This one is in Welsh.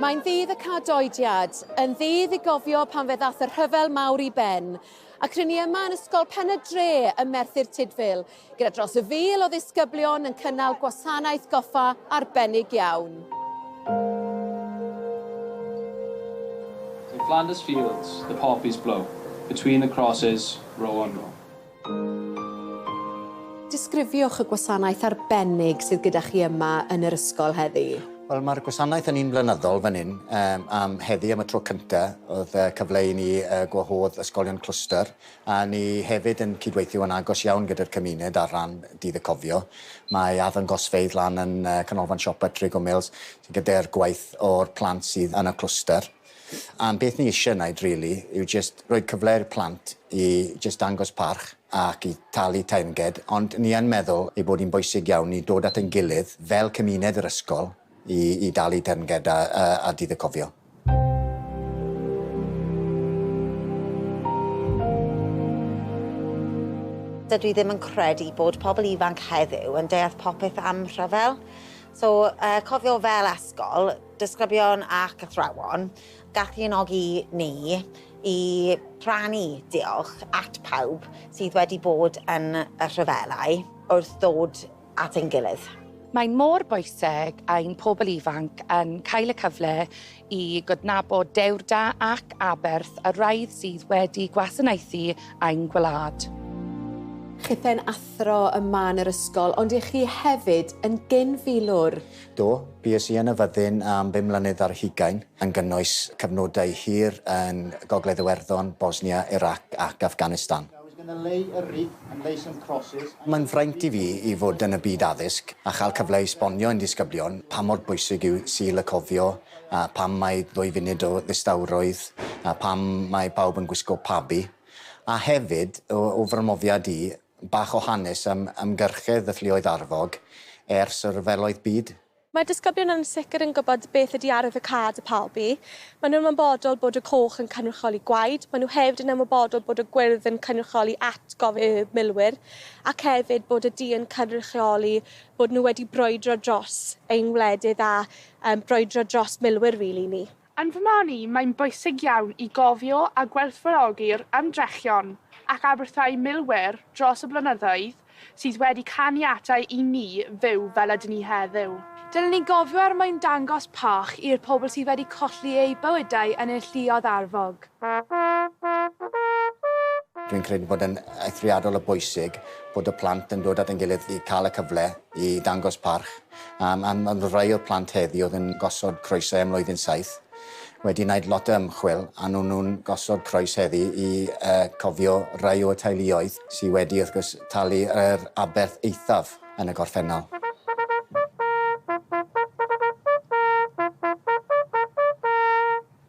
Mae'n ddydd y cadoediad, yn ddydd i gofio pan fe ddath y rhyfel mawr i ben. Ac rydyn ni yma yn Ysgol Pen y Dre ym Merthyr Tudful, gyda dros y fil o ddisgyblion yn cynnal gwasanaeth goffa arbennig iawn. In Flanders fields the poppies blow, between the crosses, row on row. Disgrifiwch y gwasanaeth arbennig sydd gyda chi yma yn yr ysgol heddi. Wel mae'r gwasanaeth yn un blynyddol fan hyn yym am heddi am y tro cynta oedd yy cyfle i ni yy gwahodd ysgolion clwstwr a ni hefyd yn cydweithio yn agos iawn gyda'r cymuned ar ran dydd y cofio. Mae arddangosfeydd lan yn yy canolfan siopa Trigo Mills sy'n gyda'r gwaith o'r plant sydd yn y clwstwr. A'n peth ni isie wneud rili yw jyst rhoi cyfle i'r plant i jyst dangos parch ac i talu teyrnged, ond ni yn meddwl ei bod hi'n bwysig iawn i dod at ein gilydd fel cymuned yr ysgol i i dalu teyrnged a a a Dydd y Cofio. Dydw i ddim yn credu bod pobl ifanc heddiw yn deall popeth am rhyfel. So yy cofio fel ysgol, Disgyblion ac athrawon, galluogi ni i rannu diolch at pawb sydd wedi bod yn y rhyfelau wrth ddod at ein gilydd. Mae'n mor bwysig ein pobl ifanc yn cael y cyfle i gydnabod dewrda ac aberth y rhai sydd wedi gwasanaethu ein gwlad. Chithau'n athro yma yn yr ysgol, ond y'ch chi hefyd yn gyn-filwr. Do, bues i yn y fyddin am bum mlynedd ar hugain, yn gynnwys cyfnodau hir yn Gogledd Iwerddon, Bosnia, Irac ac Afghanistan. Mae'n fraint i fi i fod yn y byd addysg a chael cyfle i esbonio i'n disgyblion pa mor bwysig yw Sul y Cofio a pam mae ddwy funud o ddistawrwydd a pam mae pawb yn gwisgo pabi. A hefyd, o fy mhrofiad i, Bach o hanes am ymgyrchedd y Lluoedd Arfog ers y Rhyfeloedd Byd. Mae'r disgyblion yn sicr yn gwybod beth ydy arwydd y cad y palbi. Maen nhw'n ymwybodol bod y coch yn cynrychioli gwaed, maen nhw hefyd yn ymwybodol bod y gwyrdd yn cynrychioli atgof y milwyr, ac hefyd bod y du yn cynrychioli bod nhw wedi brwydro dros ein wledydd a brwydro dros milwyr rili ni. Yn fy marn i, mae'n bwysig iawn i gofio a gwerthfawrogi'r ymdrechion ac aberthau milwyr dros y blynyddoedd sydd wedi caniatáu i ni fyw fel ydyn ni heddiw. Dylen ni gofio er mwyn dangos pach i'r pobl sydd wedi colli eu bywydau yn ein lluoedd arfog. Dwi'n credu bod e'n eithriadol o bwysig bod y plant yn dod at ein gilydd i cael y cyfle i ddangos parch. Am, am, am fod rai o'r plant heddi oedd yn gosod croesau ym mlwyddyn saith wedi wneud lot o ymchwil a nhw nhw'n gosod croes heddi i uh, cofio rai o'r teuluoedd sydd wedi wrth gwrs talu yr aberth eithaf yn y gorffennol.